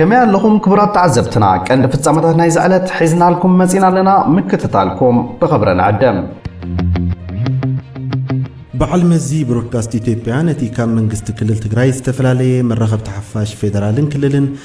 ከመይ ኣለኹም ክቡራት ተዓዘብትና፣ ቀንዲ ፍጻመታት ናይዚ ዕለት ሒዝናልኩም መጺና ኣለና። ምክትታልኩም ብኽብሪ ንዕድም። በዓል መዚ ብሮድካስት ኢትዮጵያ ነቲ ካብ መንግስቲ ክልል ትግራይ ዝተፈላለየ መራኸብቲ ሓፋሽ ፌደራልን ክልልን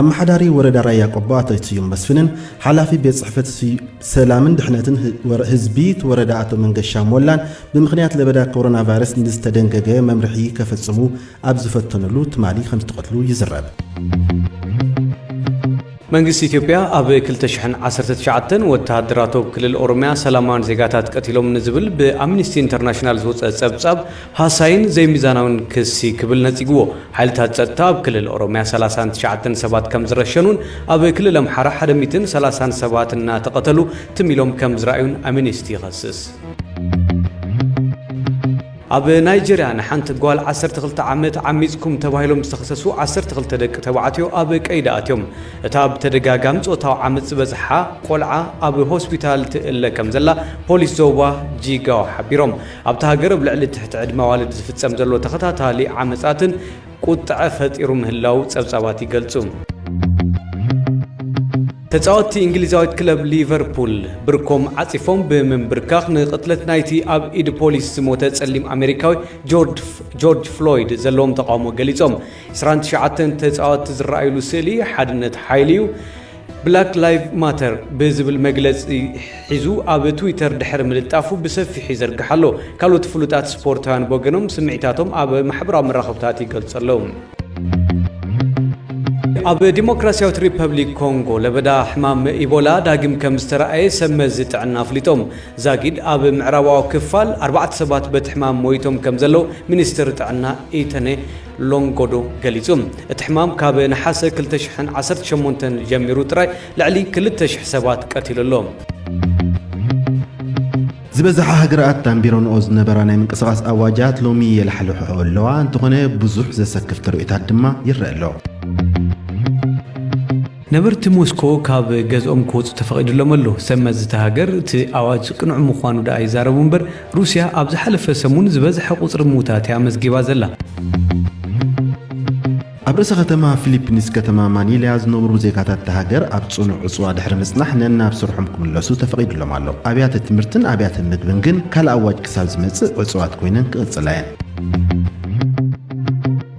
ኣመሓዳሪ ወረዳ ራያ ቆቦ ኣቶ ስዩም መስፍንን ሓላፊ ቤት ፅሕፈት ሰላምን ድሕነትን ህዝቢ እቲ ወረዳ ኣቶ መንገሻ ሞላን ብምኽንያት ለበዳ ኮሮና ቫይረስ ንዝተደንገገ መምርሒ ከፈፅሙ ኣብ ዝፈተንሉ ትማሊ ከምዝተቐትሉ ይዝረብ። መንግስቲ ኢትዮጵያ ኣብ 2019 ወተሃደራቱ ኣብ ክልል ኦሮሚያ ሰላማውያን ዜጋታት ቀቲሎም ንዝብል ብኣምኒስቲ ኢንተርናሽናል ዝወፀ ፀብፃብ ሃሳይን ዘይሚዛናዊን ክሲ ክብል ነጺግዎ። ሓይልታት ጸጥታ ኣብ ክልል ኦሮሚያ ሰላሳን ትሽዓተን ሰባት ከም ዝረሸኑን ኣብ ክልል ኣምሓራ ሓደ ሚእትን ሰላሳን ሰባት እናተቐተሉ ትም ኢሎም ከም ዝረኣዩን ኣሚኒስቲ ይኸስስ። ኣብ ናይጀርያ ንሓንቲ ጓል ዓሰርተ ክልተ ዓመት ዓሚጽኩም ተባሂሎም ዝተኸሰሱ ዓሰርተ ክልተ ደቂ ተባዕትዮ ኣብ ቀይዲ ኣትዮም። እታ ብተደጋጋሚ ጾታዊ ዓመጽ ዝበጽሓ ቆልዓ ኣብ ሆስፒታል ትእለ ከም ዘላ ፖሊስ ዞባ ጂጋዋ ሓቢሮም። ኣብታ ሃገር ኣብ ልዕሊ ትሕቲ ዕድመ ኣዋልድ ዝፍጸም ዘሎ ተኸታታሊ ዓመጻትን ቁጥዐ ፈጢሩ ምህላዉ ጸብጻባት ይገልጹ። ተጻወትቲ እንግሊዛዊት ክለብ ሊቨርፑል ብርኮም ዓጺፎም ብምንብርካኽ ንቕትለት ናይቲ ኣብ ኢድ ፖሊስ ዝሞተ ጸሊም ኣሜሪካዊ ጆርጅ ፍሎይድ ዘለዎም ተቓውሞ ገሊጾም። ዕስራን ትሽዓተን ተጻወትቲ ዝረኣዩሉ ስእሊ ሓድነት ሓይሊ'ዩ። ብላክ ላይቭ ማተር ብዝብል መግለጺ ሒዙ ኣብ ትዊተር ድሕሪ ምልጣፉ ብሰፊሑ ይዘርግሕ ኣሎ። ካልኦት ፍሉጣት ስፖርታውያን ብወገኖም ስምዒታቶም ኣብ ማሕበራዊ መራኸብታት ይገልጹ ኣለዉ። ኣብ ዲሞክራሲያዊት ሪፐብሊክ ኮንጎ ለበዳ ሕማም ኢቦላ ዳግም ከም ዝተረኣየ ሰብ መዚ ጥዕና ኣፍሊጦም። ዛጊድ ኣብ ምዕራባዊ ክፋል ኣርባዕተ ሰባት በቲ ሕማም ሞይቶም ከም ዘለዉ ሚኒስትር ጥዕና ኢተነ ሎንጎዶ ገሊጹ። እቲ ሕማም ካብ ነሓሰ ክልተ ሽሕን ዓሰርተ ሸሞንተን ጀሚሩ ጥራይ ልዕሊ ክልተ ሽሕ ሰባት ቀቲሉ ኣሎ። ዝበዝሓ ሃገራት ኣንቢረንኦ ዝነበራ ናይ ምንቅስቓስ ኣዋጃት ሎሚ የላሕልሕኦ ኣለዋ፣ እንተኾነ ብዙሕ ዘሰክፍ ተርእዮታት ድማ ይረኣ ኣሎ። ነበርቲ ሞስኮ ካብ ገዝኦም ክወጹ ተፈቒድሎም ኣሎ። ሰብ መዚ እታ ሃገር እቲ ኣዋጅ ቅኑዕ ምዃኑ ደኣ ይዛረቡ እምበር፣ ሩስያ ኣብ ዝሓለፈ ሰሙን ዝበዝሐ ቁጽሪ ምዉታት እያ ኣመዝጊባ ዘላ። ኣብ ርእሰ ከተማ ፊሊፒንስ ከተማ ማኒላ ዝነብሩ ዜጋታት እታ ሃገር ኣብ ጽኑዕ ዕጽዋ ድሕሪ ምጽናሕ ነናብ ስርሖም ክምለሱ ተፈቒድሎም ኣሎ። ኣብያተ ትምህርትን ኣብያተ ምግብን ግን ካልእ ኣዋጅ ክሳብ ዝመጽእ ዕጹዋት ኮይነን ክቕጽላ እየን።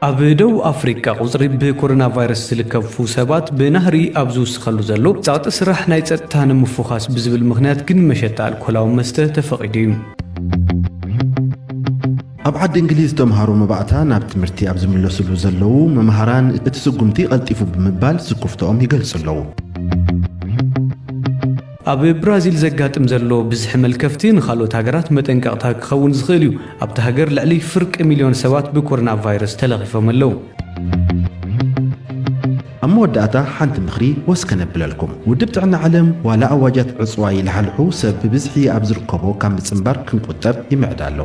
ኣብ ደቡብ ኣፍሪቃ ቁጽሪ ብኮሮናቫይረስ ዝልከፉ ሰባት ብናህሪ ኣብ ዝውስኸሉ ዘሎ፣ ጸቕጢ ስራሕ ናይ ጸጥታ ንምፉዃስ ብዝብል ምኽንያት ግን መሸጣ ኣልኮላዊ መስተ ተፈቒዱ እዩ። ኣብ ዓዲ እንግሊዝ ተምሃሮ መባእታ ናብ ትምህርቲ ኣብ ዝምለስሉ ዘለዉ መምሃራን እቲ ስጉምቲ ቐልጢፉ ብምባል ስኩፍትኦም ይገልጹ ኣለዉ። ኣብ ብራዚል ዘጋጥም ዘሎ ብዝሒ መልከፍቲ ንኻልኦት ሃገራት መጠንቀቕታ ክኸውን ዝኽእል እዩ። ኣብታ ሃገር ልዕሊ ፍርቂ ሚልዮን ሰባት ብኮሮናቫይረስ ተለኺፎም ኣለዉ። ኣብ መወዳእታ ሓንቲ ምኽሪ ወስ ከነብለልኩም። ውድብ ጥዕና ዓለም ዋላ ኣዋጃት ዕጽዋ ይለሓልሑ ሰብ ብብዝሒ ኣብ ዝርከቦ ካብ ምጽንባር ክንቁጠብ ይምዕድ ኣሎ።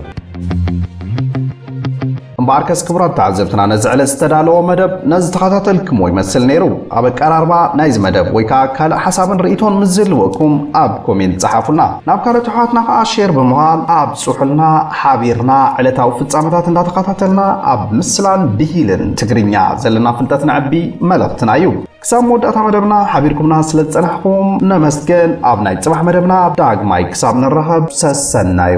እምበኣርከስ ክቡራት ተዓዘብትና ነዚ ዕለት ዝተዳለወ መደብ ነዝተኸታተልክምዎ ይመስል ነይሩ። ኣብ ኣቀራርባ ናይዚ መደብ ወይ ከኣ ካልእ ሓሳብን ርእይቶን ምስ ዝህልወኩም ኣብ ኮሜንት ጸሓፉልና። ናብ ካልኦት ኣሕዋትና ከኣ ሼር ብምባል ኣብጽሑልና። ሓቢርና ዕለታዊ ፍጻመታት እንዳተኸታተልና ኣብ ምስላን ብሂልን ትግርኛ ዘለና ፍልጠት ነዕቢ መልእኽትና እዩ። ክሳብ መወዳእታ መደብና ሓቢርኩምና ስለ ዝጸናሕኩም ነመስግን። ኣብ ናይ ጽባሕ መደብና ዳግማይ ክሳብ ንራኸብ ሰሰናዩ።